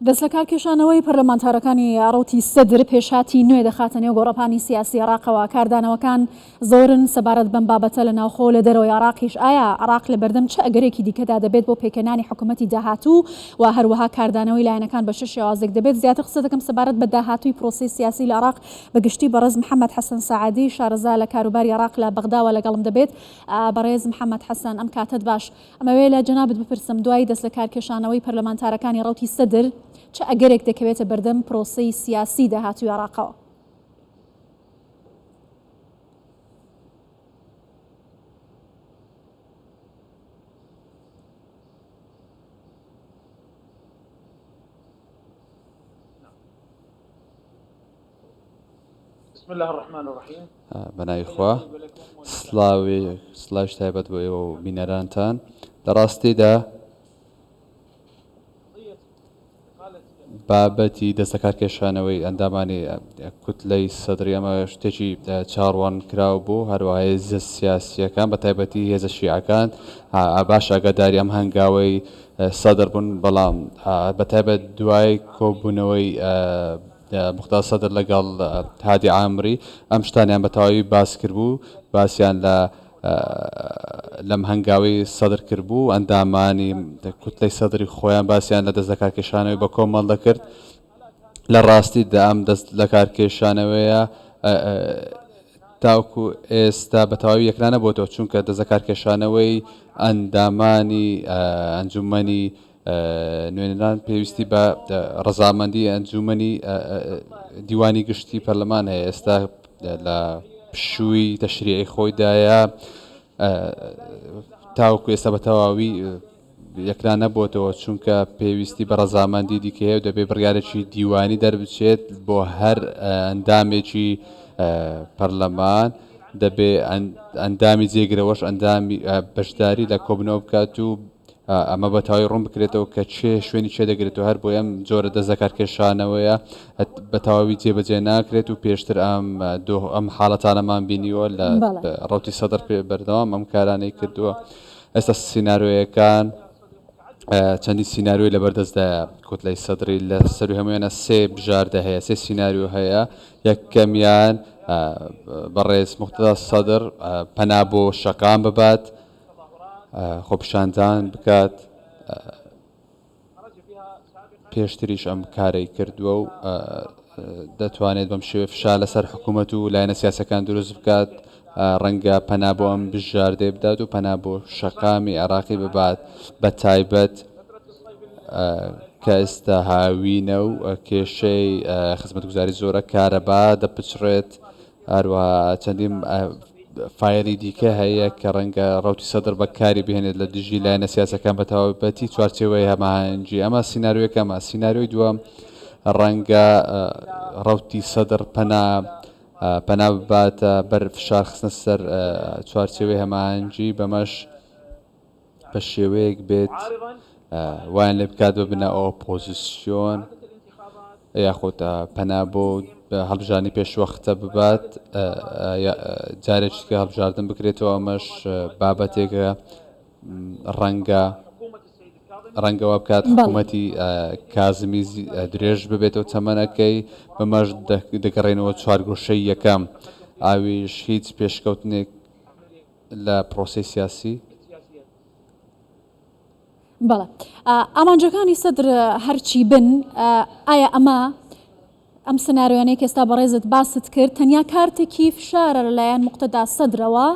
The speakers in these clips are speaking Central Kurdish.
دەستلەکارکێشانەوەی پەرلەمانتارەکانی ڕەوتی سەدر پێشهاتی نوێ دەخاتە نێو گۆڕەپانی سیاسی عراقەوە، کاردانەوەکان زۆرن سەبارەت بەم بابەتە لە ناوخۆو لە دەرەوەی عراقیش، ئایا عراق لەبەردەم چ ئەگەرێکی دیکەدا دەبێت بۆ پێکهێنانی حکومەتی داهاتوو و هەروەها کاردانەوەی لایەنەکان بە چ شێوازێک دەبێت؟ زیاتر قسەدەکەم سەبارەت بە داهاتووی پرۆسەی سیاسی لە عراق بەگشتی بەڕێز محەمەد حەسەن سەعدی شارەزا لە کاروباری عراق لە بەغداوە لەگەڵم دەبێت. بەڕێز محەمەد حەسەن ئەم کاتەت باش. ئەمەوێ لە جەنابت بپرسم دوای دەستلەکارکێشانەوەی پەرلەمانتارەکانی ڕەوتی سەدر چ ئەگەرێک دەکەوێتە بەردەم پرۆسەی سیاسیی داهاتووی عێراقەوە؟ بسم اللە الرحمن الرحیم بەناوی خوا سلاوێ سلاش تایبەت بۆ ئێوە و بینەرانتان لە ڕاستیدا بابەتی دەستەکار کێشانەوەی ئەندامانی کوتلەی سەدرری ئەمە شتێکی چاڕوان کراو بوو هەروە هێزە سیاسیەکان بە تایبەتی هێزە شیعەکان باش ئەگەداری ئەم هەنگاوەی سەدر بوون بەڵام بە تایبەت دوای کۆبوونەوەی موقتەدا سەدر لەگەڵ هادی عامری ئەم شتانەیان بە تەواوی باس کردبوو، باسیان لە لەم هەنگاوی سەدر کردبوو، ئەندامانی کوتلەی سەدری خۆیان باسیان لە دەست لەکارکێشانەوەی بە کۆمەڵ دەکرد، لە ڕاستیدا ئەم دەست لەکارکێشانەوەیە تاوکو ئێستا بە تەواوی یەکلانەبۆتەوە، چونکە دەست لەکارکێشانەوەی ئەندامانی ئەنجومەنی نوێنەران پێویستی بە ڕەزامەندی ئەنجوومەنی دیوانی گشتی پەرلەمان هەیە ئێستا لە پشووی تەشریعی خۆیدایە تاوکو ئێستا بە تەواوی یەکلا نەبووتەوە چونکە پێویستی بە ڕەزامەندی دیکەیە و دەبێ بڕارێکی دیوانی دەربچێت بۆ هەر ئەندامێکی پەرلەمان دەبێ ئەندامی جێگرەوەش ئەندامی بەشداری لە کۆبنەوە بکات و ئەمە بە تەواوی ڕوون بکرێتەوە کە کێ شوێنی کێ دەگرێت و هەر بۆی ئەم جۆرە دەست لەکارکێشانەوەیە بە تەواوی جێبەجێ ناکرێت و پێشتر ئەم ئەم حاڵەتانەمان بینیوە لە ڕوتی سەدر پێ بەردەوام ئەم کارانەی کردووە ئێستا سینارۆیەکان چەندی سینناروی لە بەردەستدا کوتلای سەدری لە سەروی هەمویانە سێ بژاردە هەیە سێ سینناریو هەیە یەکەمیان بەڕێز مختدا سەدر پەنا بۆ شەقام ببات خۆپیشاندان بکات پێشتریش ئەم کارەی کردووە و دەتوانێت بەم شێوێ فشا لەسەر حکوومەت و لایەنە سیاسەکان دروست بکات ڕەنگە پەنا بۆ ئەم بژاردەی بدات و پەنا بۆ شەقامی عێراقی ببات بە تایبەت کە ئێستا هاوینە و کێشەی خزمەتگوزاری زۆرە کارەبا دەپچڕێت هەروەها چەندین فایەری دیکە هەیە کە ڕەنگە ڕوتی سەدر بەکاری بهێنێت لە دژی لایەنە سیاسەکان بە تەواوەتی چوارچێوەی هەماهەنگی ئەمە سینناروەکەمە سینناروی دووەم ڕەنگە ڕوتی سەدر پەنا پەنا بباتە بەر فشار خستە سەر چوارچێوەی هەماهەنگی بەمەش بە شێوەیەک بێت وایان لێ بکات ببنە ئۆپۆزیسیۆن یاخود پەنا بۆ هەڵبژانی پێشوەختە ببات جارێکیکە هەڵبژاردن بکرێتەوە ئەمەش بابەتێکە ڕەنگە ڕەنگەوە بکات حکوومەتی کازمی درێژ ببێتەوە تەمەنەکەی بەمەش دەگەڕێنەوە چوارگۆشەی یەکەم ئاویش هیچ پێشکەوتنێک لە پرۆسەی سیاسی. بەڵێ ئامانجەکانی سەدر هەرچی بن ئایا ئەمە ئەم سناریۆیانەی کەستا بەڕێزت باست کرد تەنیا کارتێکی فشارە لەلایەن مقتەدا سەدرەوە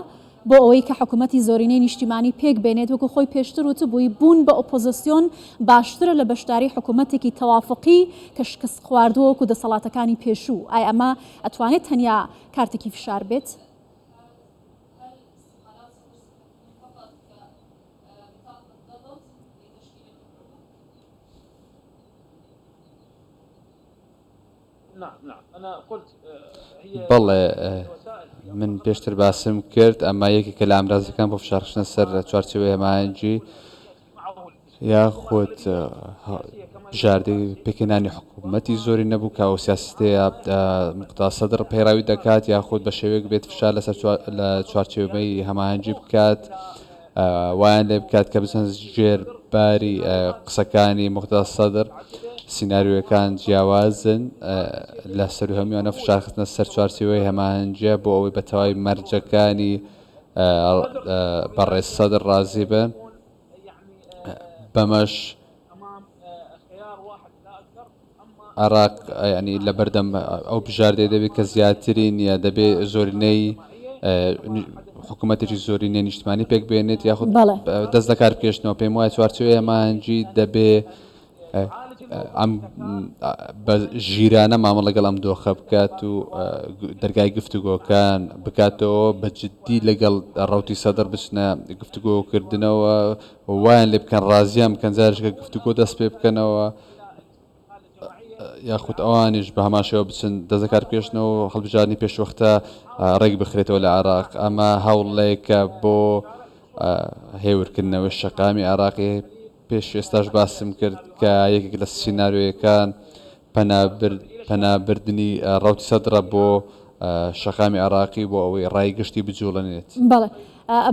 بۆ ئەوەی کە حکوومەتی زۆرینەی نیشتیمانی پێک بێنێت وەکو خۆی پێشتر وتبووی بوون بە ئۆپۆزسیۆن باشترە لە بەشداری حکوومەتێکی تەوافقی کە شکست خواردووە وەکو دەسەڵاتەکانی پێشوو ئای ئەمە ئەتوانێت تەنیا کارتێکی فشار بێت؟ بەڵێ من پێشتر باسم کرد ئەمە یەکێکە لە ئامرازەکان بۆ فشارخستنە سەر لە چوارچێوەی هەماهەنگی یاخود بژاردەی پێکهێنانی حکوومەتی زۆری نەبوو کە ئەو سیاستەیە مقتا سەدر پەیڕاوی دەکات یاخود بە شێوەیەک بێت فشار لەسەر لە چوارچێوەی هەماهەنگی بکات وایان لێ بکات کە بچەند ژێر باری قسەکانی مقتا سەدر سینناریوەکان جیاوازن لە سەر هەمیانە فشارخستنە سەر چوارچێوەی هەماهەنگە بۆ ئەوەی بەتەواوی مەرجەکانی بەڕێز سەدر ڕازی بن بەمەش عراق ینی لە بەردەم ئەو بژاردەی دەبێت کە زیاتری نییە دەبێ زۆرینەی حکوومەتێکی زۆرینە نیشتمانی پێک بێنێت یاخود دەست لە کار بکێشتنەوە پێم وایە چوارچوێ مانجی دەبێ ئەم بە ژیرانە مامە لەگەڵ ئەم دۆخە بکات و دەرگای گفتوگۆکان بکاتەوە بە جددی لەگەڵ ڕوتی سەدر بچنە گفتوگۆکردنەوە وایان لێ بکەن ڕازیان بکەن جارشکە گفتوگۆ دەست پێ بکەنەوە یاخود ئەوانیش بە هەماشەوە بچن دەزەکار پێشنەوە هەڵبژارنی پێشوەختە ڕێک بخرێتەوە لە عراق ئەمە هەوڵێکە بۆ هێورکردنەوە شەقامی عراقی پێش ئێستاش باسم کرد کە یەکێک لە سینارۆیەکان پەنابردنی ڕەوت سەدرە بۆ شەقامی عێراقی بۆ ئەوەی ڕای گشتی بجوڵێنێت. بەڵێ.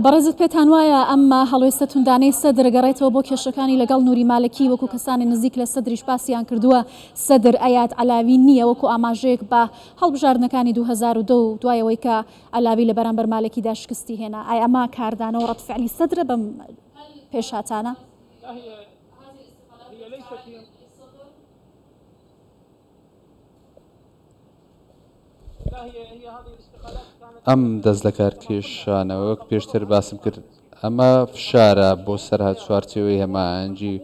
بەڕێزت پێتان وایە ئەم هەڵوێستە توندانەی سەدر گەڕێتەوە بۆ کێشەکانی لەگەڵ نوری مالکی وەکو کەسانی نزیک لە سەدریش باسیان کردووە سەدر ئەیات عەلاوی نییە وەکو ئاماژەیەک بە هەڵبژاردنەکانی دوو هەزار و دە و دوای ئەوەی کە عەلاوی لە بەرامبەر مالکیدا شکستی هێنا ئای ئەمە کاردانەوە ڕەد فعلی سەدرە بەم پێشهاتانە. ئەم دەستلەکارکێشانە وەک پێشتر باسم کرد ئەمە فشارە بۆ سەر هەر چوارچێوەی هەماهەنگی و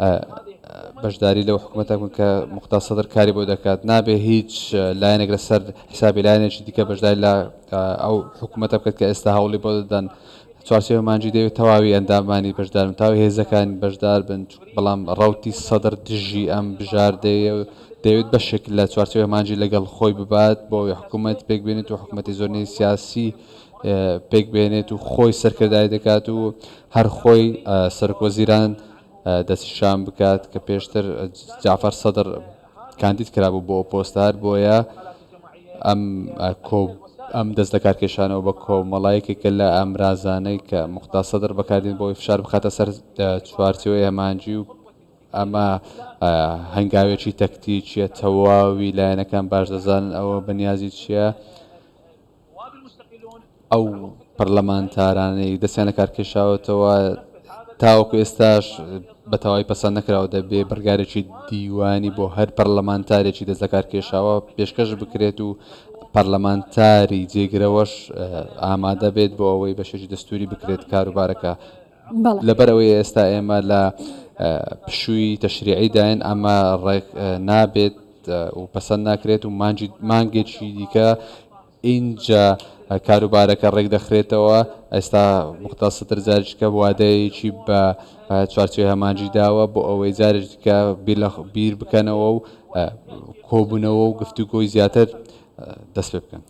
ئە بەشداری لەو حکومەتە بکەن کە مختار سەدر کاری بۆ دەکات نابێ هیچ لایەنێک لەسەر حسابی لایەنێکی دیکە بەشداری لە ئەو حکوومەتە بکات کە ئێستا هەوڵی بۆ دەدەن چوارچێوە مانجی دەوێت تەواوی ئەندامانی بەشدارن تاو هێزەکان بەشدار بن بەڵام ڕوتی سەدر دژی ئەم بژاردەیە دەوێت بەشێک لە چوارچێوە مانجی لەگەڵ خۆی ببات بۆ حکوومەت پێک بێنێت و حکوومەتی زۆرنەی سیاسی پێک بێنێت و خۆی سەرکردای دەکات و هەر خۆی سەرکۆزیران دەستنیشان بکات کە پێشتر جەعفەر سەدر کاندید کرابوو بۆ ئەو پۆستە هەر بۆیە ئەم کۆ ئەم دەست لە کارکێشانەوە بە کۆمەڵایەکێکە لە ئامرازانەی کە مختار سەدر بەکاردێن بۆی فشار بخاتە سەر چوارچەوەی هەمانجی و ئەمە هەنگاوێکی تەکتیکیە تەواوی لایەنەکان باش دەزانن ئەوە بەنیازی چییە ئەو پەرلەمانتارانەی دەستیان لە کار کێشاوەتەوە تاوەکو ئێستاش بە تەواوی پەسەند نەکراوە دەبێ بڕگارێکی دیوانی بۆ هەر پەرلەمانتارێکی دەست لە کار کێشاوە پێشکەش بکرێت و پەرلەمانتاری جێگرەوەش ئامادە بێت بۆ ئەوەی بەشێکی دەستوری بکرێت کاروبارەکە لەبەرئەوەی ئێستا ئێمە لە پشووی تەشریعی داین ئەمە ڕێک نابێت و پەسەند ناکرێت و مانجی مانگێکی دیکە ئینجا کاروبارەکە ڕێک دەخرێتەوە ئێستا مختار سەدر جارشکە وادەیەکی بە چوارچێ هەمانجی داوە بۆ ئەوەی جارشکە بیر لە بیر بکەنەوە و کۆبوونەوە و گفتوگۆی زیاتر دەست پێ بکەن.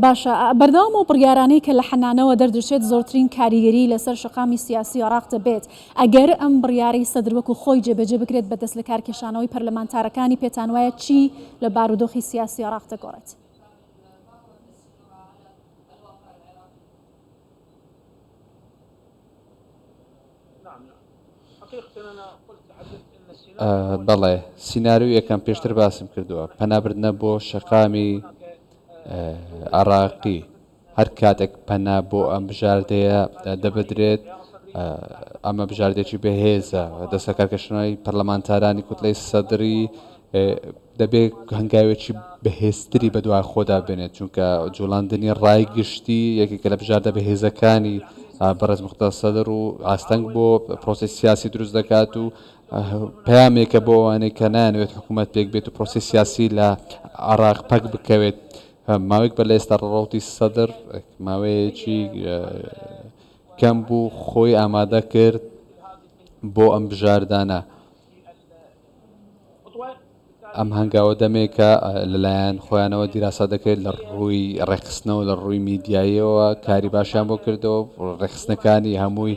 باشە بەردەوام ئەو بڕیارانەی کە لە حەنانەوە دەردەچێت زۆرترین کاریگەری لەسەر شەقامی سیاسی عێراق دەبێت ئەگەر ئەم بڕیارەی سەدر وەکو خۆی جێبەجێ بکرێت بە دەستلەکارکێشانەوەی پەرلەمانتارەکانی پێتانوایە چی لە بارودۆخی سیاسی عێراق دەگۆڕێت؟ بەڵێ، سیناریۆی یەکەم پێشتر باسم کردووە، پەنابردنە بۆ شەقامی عراقی هەر کاتێک پەنا بۆ ئەم بژاردەیە دەبدرێت ئەمە بژاردێکی بەهێزە دەسەکارکەشنەوەی پەرلەمانتارانی کوتلەی سەدرری دەبێت هەنگاوێکی بەهێزتری بەدوای خۆدا بێنێت چونکە جوڵاندنی ڕای گشتی یەکێکە لە بژاردە بەهێزەکانی بەڕێز مختار سەدر و ئاستەنگ بۆ پرۆسی سیاسی دروست دەکات و پامێکە بۆ ئەوانەی کە نانوێت حکوومەت پێک بێت و پرۆسی سیاسی لە عراق پەک بکەوێت ماوەیەک بە لە ئێستا ڕەوتی سەدر ماوەیەکی کەم بوو خۆی ئامادە کرد بۆ ئەم بژاردانە. ئەم هەنگاوە دەمێکە لەلایەن خۆیانەوە دیراسا دەکرێت لە ڕووی ڕێخستنەوە لە ڕووی میدیاییەوە کاری باشیان بۆ کردەوە ڕێخستنەکانی هەمووی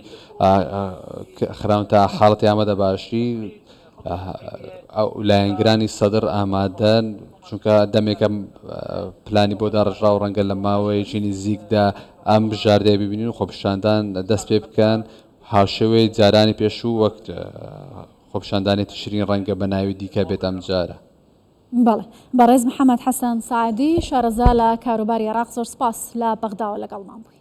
خراون تا حاڵەتی ئامادە باشی لایەنگرانی سەدر ئامادەن چونکە دەمێکە پلانی بۆ داڕژرا و ڕەنگە لە ماوەیەکی نزیکدا ئەم بژاردەیە ببینین و خۆپشاندان دەست پێ بکەن هاوشێوەی جارانی پێشوو وەک خۆپیشاندانی تشرین ڕەنگە بە ناوی دیکە بێت ئەمجارە. بەڵێ. بەڕێز محەمەد حەسەن سەعدی، شارەزا لە کاروباری عێراق، زۆر سپاس لە بەغداوە لەگەڵمان بووی.